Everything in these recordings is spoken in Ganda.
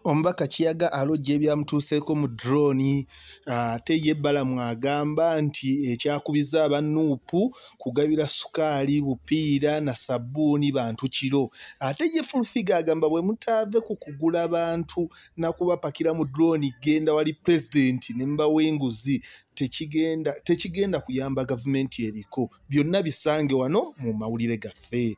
omubaka kiyaga alojja ebyamutuuseeko mu droni ah, ate ye balamu agamba nti ekyakubiza aba nuupu kugabira sukaali bupiira na sabbuuni bantu kiro ate ye fulfiga agamba bwe mutaave ku kugula bantu nakubapakira mu droni genda wali pulezidenti ne mubawa enguzi tekigenda kuyamba gavumenti eriko byonna bisange wano mu mawulire gaffe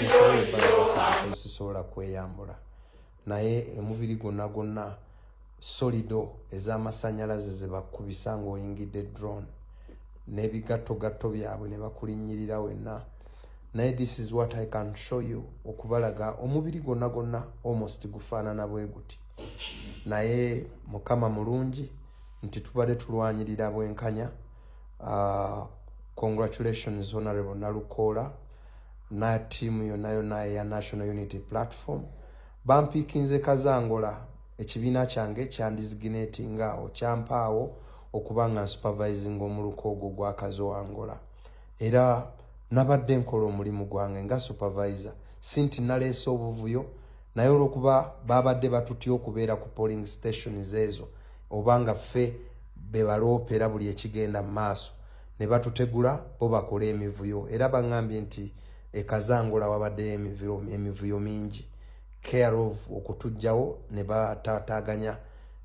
sisobola kweyambula naye emubiri gwonna gwonna solido ez'amasanyalaze zebakubisa ngaoyingidde drone n'ebigattogatto byabwe ne bakulinnyirira wenna naye this is what i can show you okubalaga omubiri gwonna gwonna almost gufaanana bwe guti naye mukama mulungi nti tubadde tulwanyirira bwenkanya uh, congratulations honorable nalukoola na tiimu yonna yonna eya national unity platform bampiikinze kazangola ekibiina kyange kyandiziginatinga awo kyampaawo okuba nga nsupervising omuluka ogwo gwa kazoangola era nabadde nkola omulimu gwange nga supervisor si nti naleese obuvuyo naye olwokuba babadde batutya okubeera ku polling stations ezo oba nga ffe bebaloopera buli ekigenda mu maaso ne batutegula bo bakole emivuyo era baŋambye nti ekazangula wabaddeyo emivuyo mingi care of okutujjawo ne batataganya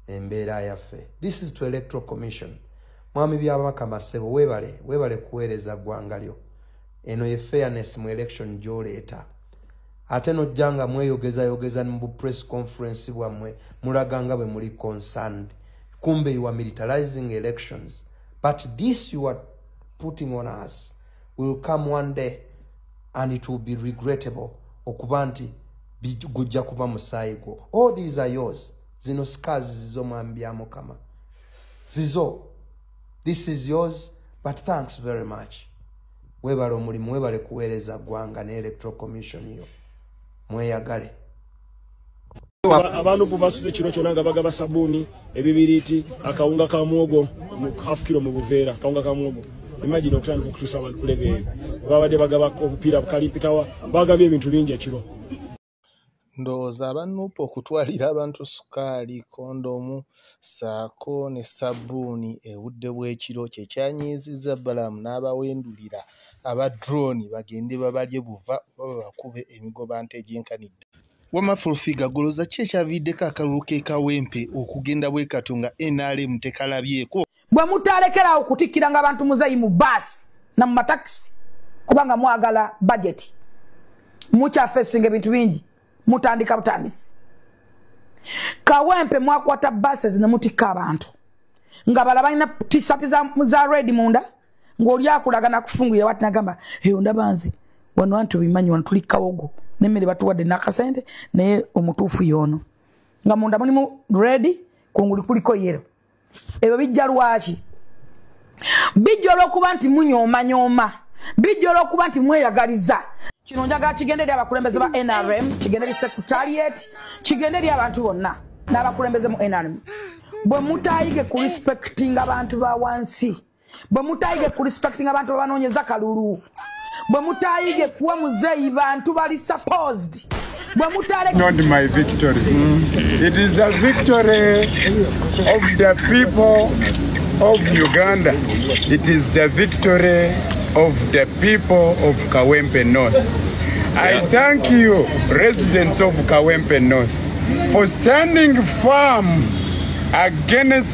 embeera yaffe this is to electoral commission mwami byabaka masebo webale webale kuweereza ggwanga lyo eno ye fairness mu election gyoleeta ate nojja nga mweyogezayogeza mu bu press conference bwammwe mulaga nga bwe muli concerned kumbe you are militarizing elections but this you are putting on us will come one day and it will be regrettable okuba nti gujja kuba musaayi gwo all these are yours zino scars zizo mwami bya mukama zizo this is yours but thanks very much webale omulimu webale kuweereza ggwanga ne electoral commission yo mweyagale abantu bubasuza ekiro kyona nga bagaba sabuuni ebibiriiti akawunga ka mwogo half kiro mu buveera akawunga ka mwogo imagine okutandika okutuusa abantu kulebe eyo babadde bagaba obupiira bukalimpitawa bagabye ebintu bingi ekiro ndowooza abanuupu okutwalira abantu sukaali kondomu ssaako ne ssabbuuni ebudde bw'ekiro kye kyanyiizizza Balaam n'abawendulira aba drone bagende babalye buva oba babakube emigobante egyenkanidde. Wamma Fullfigure golooza ki ekyaviiriddeko akalulu k'e Kawempe okugenda bwe katyo nga nrm tekalabyeko? bwe mutaalekerawo kutikkiranga abantu muzeeyi mu baasi na mu matakisi kubanga mwagala bajeti mukyafesinga ebintu bingi mutandika butandisi kawempe mwakwata bases ne mutikka abantu nga bala balina tisati za, za redi munda ng'oli akulagana kufungulira wati nagamba eyo ndaba nze wano anti obimanyi wano tuli kawogo nemmere batuwadde nakasente naye omutuufu yoono nga munda mulimu redi kunguli kuliko yero ebyo bijja lwaki bijja olwokuba nti munyomanyooma bijja olwokuba nti mweyagaliza kino njagala kigende eri abakulembeze ba nrm kigende eri secretariat kigende eri abantu bonna n'abakulembeze mu nrm bwe mutayige ku respectinga abantu ba wansi bwe mutayige ku respecting abantu babanoonyeza kalulu bwe mutayige kuwa muzeeyi bantu bali supposed bwe mutaleknot my victory it is a victory of the people of uganda it is the victory of the people of kawempe north i thank you residents of kawempe north for standing firm against